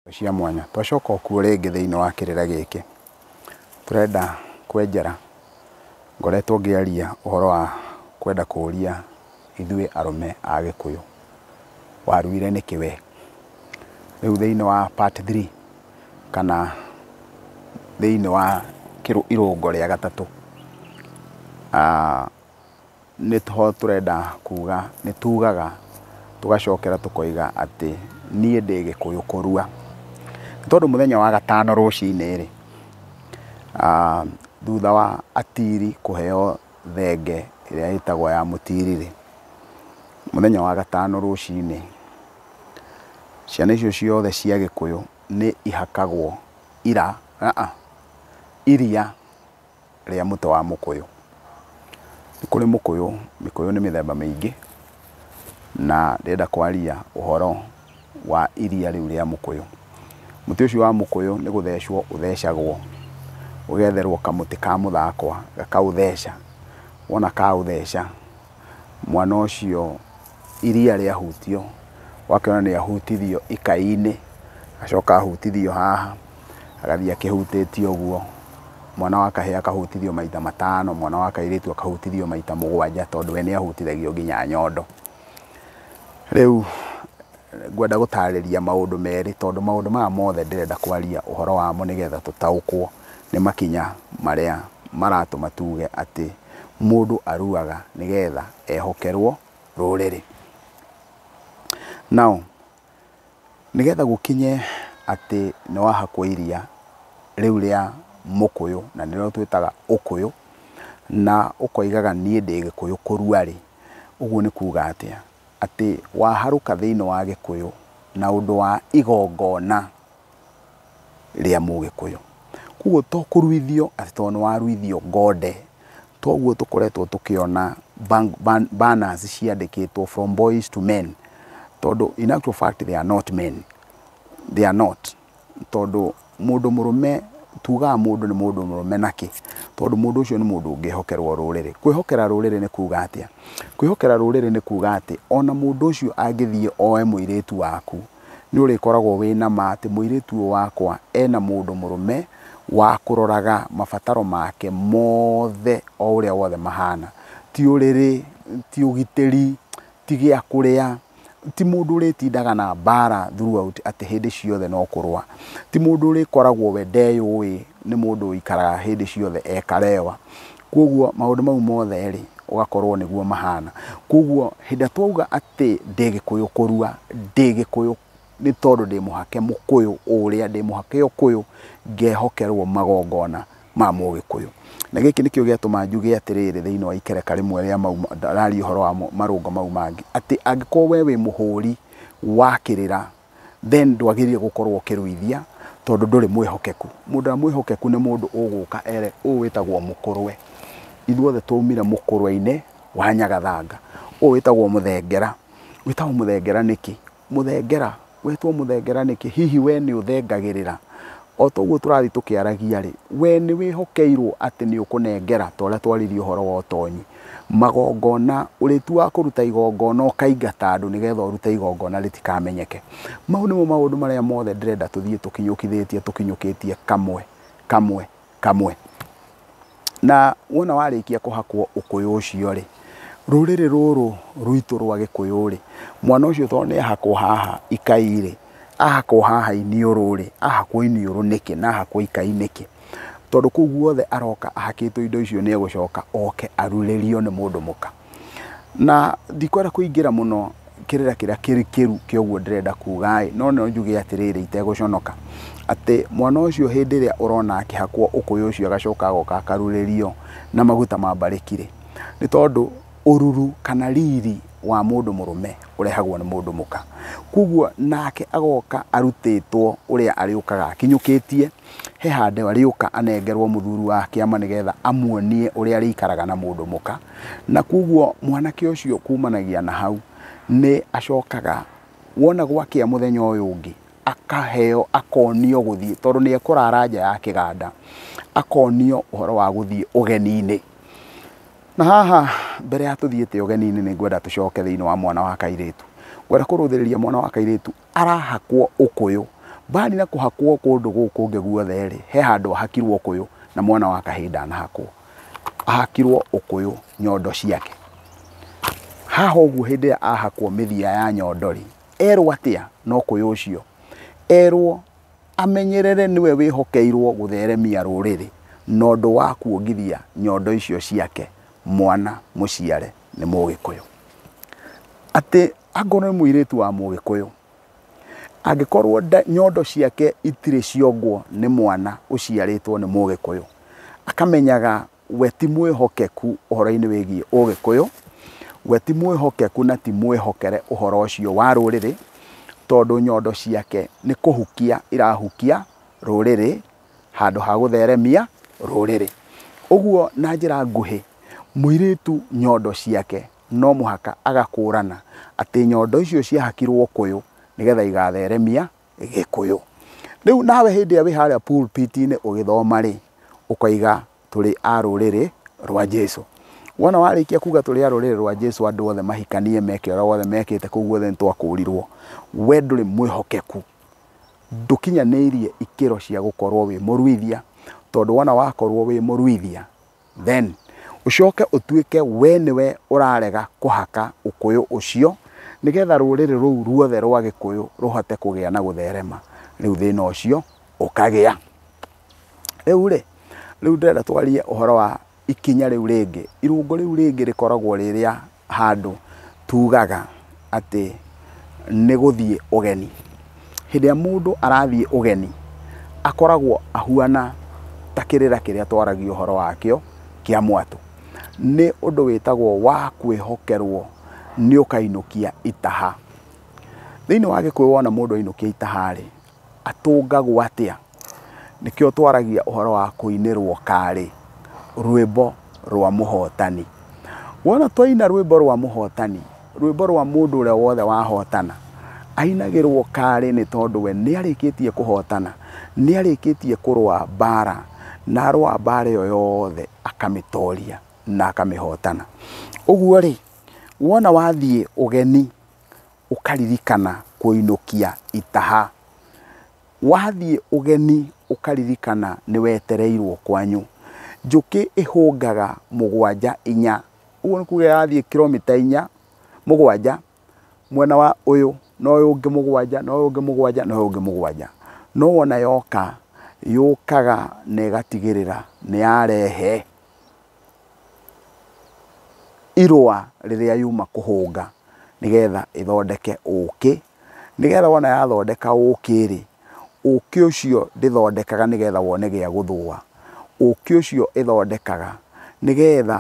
indo cia mwanya. Twacoka okuo rĩngĩ thĩinĩ wa kĩrĩra gĩkĩ, tũrenda kwenjera, ngoretwo ngĩaria ũhoro wa kwenda kũria ithuĩ arũme a Gĩkũyũ, waruire nĩkĩ we? Rĩu thĩinĩ wa part three kana thĩinĩ wa irũngo rĩa gatatũ, Nĩho tũrenda kuuga, nĩtuugaga tũgacokera tũkoiga atĩ niĩ ndĩ gĩkũyũ kũrua. Nĩ tondũ mũthenya wa gatano rũcinĩ-rĩ, thutha wa atiri kũheo thenge ĩrĩa ĩtagwo ya mũtiri-rĩ, mũthenya wa gatano rũcinĩ, ciana icio ciothe cia gĩkũyũ nĩ ihakagwo ira, aa, iria. rĩa mũtĩ wa mũkũyũ. Nĩ kũrĩ mũkũyũ, mĩkũyũ nĩ mĩthemba mĩingĩ, na ndĩrenda kwaria ũhoro wa iria rĩu rĩa mũkũyũ. Mũtĩ ũcio wa mũkũyũ nĩ gũthecwo ũthecagwo, ũgetherwo kamũtĩ ka mũthakwa gakaũtheca, wona kaũtheca, mwana ũcio. iria rĩahutio, ũgakĩona nĩ ahutithio ikai-inĩ, agacoka ahutithio haha, agathiĩ akĩhutĩtio ũguo, mwana wa kahĩĩ akahutithio maita matano, mwana wa kairĩtu akahutithio maita mũgwanja tondũ we nĩ ahutithagio nginya nyondo. Rĩu ngwenda gũtarĩria maũndũ merĩ tondũ maũndũ maya mothe ndĩrenda kwaria ũhoro wamo nĩgetha tũtaũkwo nĩ makinya marĩa maratũma tuge atĩ mũndũ aruaga nĩgetha ehokerwo rũrĩrĩ. Now, nĩgetha gũkinye atĩ nĩ wahakwo iria rĩu rĩa mũkũyũ, na nĩrĩo twĩtaga ũkũyũ, na ũkoigaga niĩ ndĩ gĩkũyũ kũrua rĩ, ũguo nĩ kuuga atĩa? Atĩ waharũka thĩinĩ wa gĩkũyũ na ũndũ wa igongona. rĩa mũgĩkũyũ. Koguo to kũruithio atĩ tondũ nĩ waruithio ngonde, toguo tũkoretwo tũkĩona banners ciandĩkĩtwo from boys to men, tondũ in actual fact they are not men, they are not. Tondũ mũndũ mũrũme, tugaga mũndũ nĩ mũndũ mũrũme nakĩ? Tondũ mũndũ ũcio nĩ mũndũ ũngĩhokerwo rũrĩrĩ. Kwĩhokera rũrĩrĩ nĩ kuga atĩa? Kwĩhokera rũrĩrĩ nĩ kuga atĩ ona mũndũ ũcio angĩthiĩ oe mũirĩtu waku Nĩ ũrĩkoragwo wĩ na ma atĩ mũirĩtu ũyũ wakwa e na mũndũ mũrũme wa kũroraga mabataro make mothe o ũrĩa wothe mahana. Ti ũrĩrĩ, ti ũgitĩri, ti gĩa kũrĩa, ti mũndũ ũrĩtindaga na mbara throughout atĩ hĩndĩ ciothe no kũrũa. Ti mũndũ ũrĩkoragwo we ndeyũĩ, nĩ mũndũ ũikaraga hĩndĩ ciothe e karewa. Kwoguo maũndũ mau mothe-rĩ, ũgakorwo nĩguo mahana. Kwoguo hĩndĩ ĩrĩa twauga atĩ ndĩ gĩkũyũ kũrua, ndĩ gĩkũyũ nĩ tondũ ndĩ mũhake mũkũyũ ũrĩa, ndĩ mũhake ũkũyũ, ngehokerwo magongona ma mũgĩkũyũ. Na gĩkĩ nĩkĩo gĩatũma njuge atĩrĩrĩ thĩiniĩ wa ikereka rĩmwe rĩa mau ndararia ũhoro wa marũngo mau mangĩ, atĩ angĩkorwo wee wĩ mũhũri wa kĩrĩra, then ndwagĩrĩire gũkorwo ũkĩrũithia tondũ ndũrĩ mwĩhokeku. Mũndũ ũrĩa mwĩhokeku nĩ mũndũ ũgũka ere ũũ wĩtagwo mũkũrwe. Ithuothe twaumire mũkũrwe-inĩ wa nyagathanga. Ũũ wĩtagwo mũthengera. Wĩtagwo mũthengera nĩkĩ? Mũthengera, wetwo mũthengera nĩkĩ? Hihi we nĩ ũthengagĩrĩra? O ta ũguo tũrathiĩ tũkĩaragia rĩ, we nĩ wĩhokeirwo atĩ nĩ ũkũnengera ta ũrĩa twaririe ũhoro wa ũtonyi. Magongona, Ũrĩĩtu wa kũruta igongona ũkaingata andũ nĩ getha ũrute igongona rĩtikamenyeke. Mau nĩmo maũndũ marĩa mothe ndĩrenda tũthiĩ tũkinyũkithĩtie tũkinyũkĩtie kamwe kamwe kamwe. Na wona warĩkia kũhakwo ũkũyũ ũcio-rĩ, rũrĩrĩ rũrũ rwitũ rwa gĩkũyũ-rĩ, mwana ũcio tondũ nĩ ahakwo haha ikai-rĩ, ahakwo haha iniũrũ-rĩ, ahakwo iniũrũ nĩkĩ na ahakwo ikai nĩkĩ? Tondũ kũu guothe aroka ahakĩtwo indo icio nĩ egũcoka oke arurĩrio nĩ mũndũ mũka. Na ndikwenda kũingĩra mũno kĩrĩra kĩrĩa kĩrikĩru kĩa ũguo ndĩrenda kuga ĩ, no no njuge atĩrĩrĩ itegũconoka, atĩ mwana ũcio hĩndĩ ĩrĩa ũrona akĩhakwo ũkũyũ ũcio agacoka agoka akarurĩrio na maguta ma mbarĩki rĩ, nĩ tondũ ũruru kana riri wa mũndũ mũrũme ũrehagwo nĩ mũndũ mũka. Kũguo nake agoka arutĩtwo ũrĩa arĩũkaga akinyũkĩtie he handũ arĩũka anengerwo mũthuri wa kĩama nĩ getha amuonie ũrĩa arĩikaraga na mũndũ mũka. Na koguo mwanake ũcio kumanagia na hau nĩ acokaga wona gwakĩa mũthenya ũyũ ũngĩ akaheo akonio gũthiĩ tondũ nĩ ekũrara nja ya kĩganda akonio ũhoro wa gũthiĩ ũgeni-inĩ na haha mbere ya tũthiĩte ũgeni-inĩ nĩ ngwenda tũcoke thĩinĩ wa mwana wa kairĩtu ngwenda kũrũthĩrĩria mwana wa kairĩtu arahakwo ũkũyũ. Baali na kũhakwo kũndũ gũkũ kũngĩ guothe-rĩ, he handũ ahakirwo ũkũyũ na mwana wa kahĩĩ ndanahakwo. Ahakirwo ũkũyũ nyondo ciake. Haha ũguo hĩndĩ ĩrĩa ahakwo mĩthia ya nyondo-rĩ, erwo atĩa na ũkũyũ ũcio? Erwo amenyerere nĩwe wĩhokeirwo gũtheremia rũrĩrĩ na ũndũ wa kuongithia nyondo icio ciake mwana mũciare nĩ Mũgĩkũyũ. Atĩ Angĩkorwo nĩ mũirĩtu wa Mũgĩkũyũ, angĩkorwo nyondo ciake itirĩ ciongwo nĩ mwana ũciarĩtwo nĩ Mũgĩkũyũ, akamenyaga we ti mwĩhokeku ũhoro-inĩ wĩgiĩ Ũgĩkũyũ, we ti mwĩhokeku na ti mwĩhokere ũhoro ũcio wa rũrĩrĩ, tondũ nyondo ciake nĩ kũhukia irahukia rũrĩrĩ handũ ha gũtheremia rũrĩrĩ. Ũguo na njĩra nguhĩ, mũirĩtu nyondo ciake no mũhaka agakũrana atĩ nyondo icio ciahakirwo ũkũyũ nĩgetha igatheremia gĩkũyũ. Rĩu nawe hĩndĩ ĩrĩa wĩ harĩa pulpit-inĩ ũgĩthoma rĩ, ũkaiga tũrĩ a rũrĩrĩ rwa Jesu. Wona warĩkia kuga tũrĩ a rũrĩrĩ rwa Jesu andũ othe mahikanie meke ũrĩa wothe mekĩte kũu guothe nĩ twakũrirwo, we ndũrĩ mwĩhokeku, ndũkinyanĩirie ikĩro cia gũkorwo wĩ mũruithia, tondũ wona wakorwo wĩ mũruithia Then ũcoke ũtuĩke we nĩwe ũrarega kũhaka ũkũyũ ũcio nĩgetha rũrĩrĩ rũu ruothe rwa gĩkũyũ rũhote kũgĩa na gũtherema, rĩu thĩna ũcio ũkagĩa. Rĩu rĩ, rĩu ndĩrenda twarie ũhoro wa ikinya rĩu rĩngĩ, irũngũ rĩu rĩngĩ rĩkoragwo rĩ rĩa handũ tugaga atĩ nĩ gũthiĩ ũgeni. Hĩndĩ ĩrĩa mũndũ arathiĩ ũgeni, akoragwo ahuana ta kĩrĩra kĩrĩa twaragio ũhoro wakĩo kĩa mwatũ. Nĩ ũndũ wĩtagwo wa kwĩhokerwo nĩ ũkainũkia itaha. Thĩinĩ wa gĩkũyũ wona mũndũ ainũkia itaha rĩ, atũngagwo atĩa? Nĩkĩo twaragia ũhoro wa kũinĩrwo karĩ rwĩmbo rwa mũhotani. Wona twaina rwĩmbo rwa mũhotani, rwĩmbo rwa mũndũ ũrĩa wothe wahotana, ainagĩrwo karĩ nĩ tondũ we nĩ arĩkĩtie kũhotana, nĩ arĩkĩtie kũrũa mbara, na arũa mbara ĩyo yothe akamĩtoria na akamĩhotana. Ũguo rĩ, wona wathiĩ ũgeni ũkaririkana kũinũkia itaha, Wathiĩ ũgeni ũkaririkana nĩwetereirwo kwanyu. Njũkĩ ĩhũngaga mũgwanja inya. Ũguo nĩ kuga ĩrathiĩ kiromita inya, mũgwanja, mwena wa ũyũ, na ũyũ ũngĩ mũgwanja, na ũyũ ũngĩ mũgwanja, na ũyũ ũngĩ mũgwanja. No wona yoka, yũkaga na ĩgatigĩrĩra nĩyarehe irũa rĩrĩa yuma kũhũnga nĩgetha ĩthondeke ũkĩ, nĩgetha wona yathondeka ũkĩ rĩ, ũkĩ ũcio ndĩthondekaga nĩgetha wone gĩa gũthũa, ũkĩ ũcio ĩthondekaga nĩgetha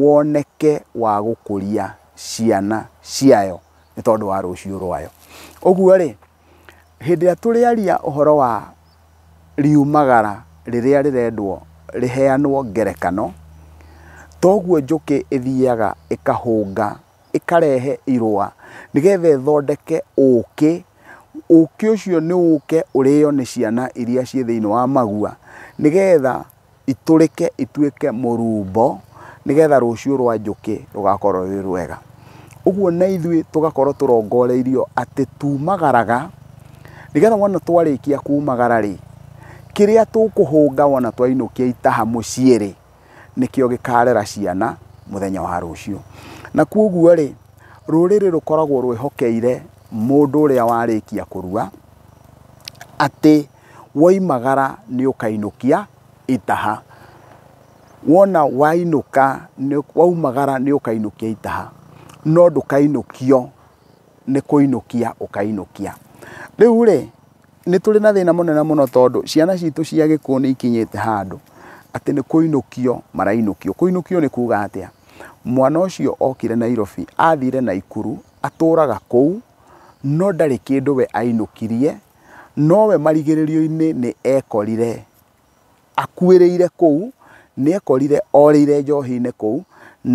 woneke wa gũkũria ciana ciayo nĩ tondũ wa rũcio rwayo. Ũguo rĩ Hĩndĩ ĩrĩa tũrĩaria ũhoro wa riumagara rĩrĩa rĩrendwo rĩheanwo ngerekano, toguo njũkĩ ĩthiaga ĩkahũnga, ĩkarehe irũa nĩgetha ĩthondeke ũkĩ. Ũkĩ ũcio nĩ ũke ũrĩo nĩ ciana iria ciĩ thĩiniĩ wa magua nĩgetha itũrĩke ituĩke mũrumbo nĩgetha rũciũ rwa njũkĩ rũgakorwo rwĩ rwega. Ũguo na ithuĩ tũgakorwo tũrongoreirio atĩ tumagaraga nĩgetha wona twarĩkia kumagara rĩ, kĩrĩa tũkũhũnga wona twainũkia itaha mũciĩ rĩ, nĩkĩo gĩkarera ciana mũthenya wa rũciũ. Na kwoguo rĩ, rũrĩrĩ rũkoragwo rwĩhokeire mũndũ ũrĩa warĩkia kũrua atĩ... Woimagara nĩũkainũkia itaha. Wona wainũka, waumagara nĩũkainũkia itaha, no ndũkainũkio nĩ kũinũkia ũkainũkia. Rĩu-rĩ, nĩtũrĩ na thĩna mũnene mũno tondũ ciana citũ cia gĩkũyũ nĩikinyĩte handũ atĩ nĩ kũinũkio marainũkio. Kũinũkio nĩ kuga atĩa? Mwana ũcio okire Nairobi, athire Naikuru, atũraga kũu, no ndarĩ kĩndũ we ainũkirie. Nowe marigĩrĩrio-inĩ nĩ ekorire akuĩrĩire kũu, nĩ ekorire orĩire njohi-inĩ kũu,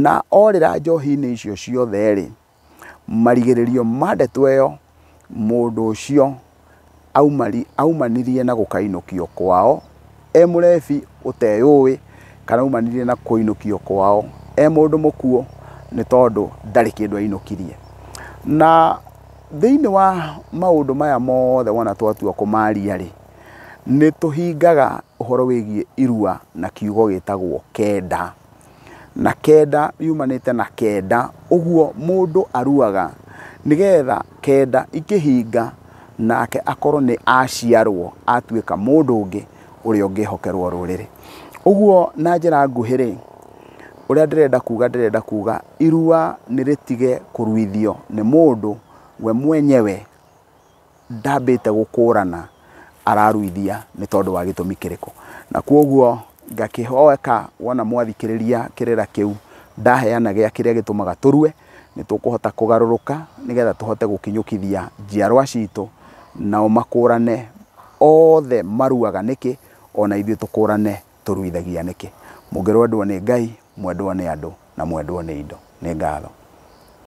na orĩra njohi-inĩ icio ciothe rĩ, marigĩrĩrio ma ndeto ĩyo, mũndũ ũcio aumanirie na gũkainũkio kwao e mũrebi ũteyũĩ, kana aumanirie na kũinũkio kwao e mũndũ mũkuũ, nĩ tondũ ndarĩ kĩndũ ainũkirie. Na Thĩinĩ wa maũndũ maya mothe wona twatua kũmaria-rĩ, nĩ tũhingaga ũhoro wĩgiĩ irua na kiugo gĩtagwo kenda. Na kenda yumanĩte na kenda, ũguo mũndũ aruaga nĩgetha kenda ikĩhinga nake akorwo nĩ aciarwo atuĩka mũndũ ũngĩ. ũrĩa ũngĩhokerwo rũrĩrĩ. Ũguo na njĩra nguhĩ rĩ, ũrĩa ndĩrenda kuga ndĩrenda kuga irua nĩ rĩtige kũruithio nĩ mũndũ we mwenyewe ndambĩte gũkũrana araruithia nĩ tondũ wa gĩtũmi kĩrĩkũ. Na kwoguo ngakĩhoya wona mwathikĩrĩria kĩrĩra kĩu ndaheana gĩa kĩrĩa gĩtũmaga tũrue, nĩ tũkũhota kũgarũrũka nĩgetha tũhote gũkinyũkithia njiarwa citũ, nao makũrane othe maruaga nĩkĩ, ona ithuĩ tũkũrane tũruithagia nĩkĩ. Mũngĩrwendwo nĩ Ngai, mwendwo nĩ andũ, na mwendwo nĩ indo. Nĩ ngatho.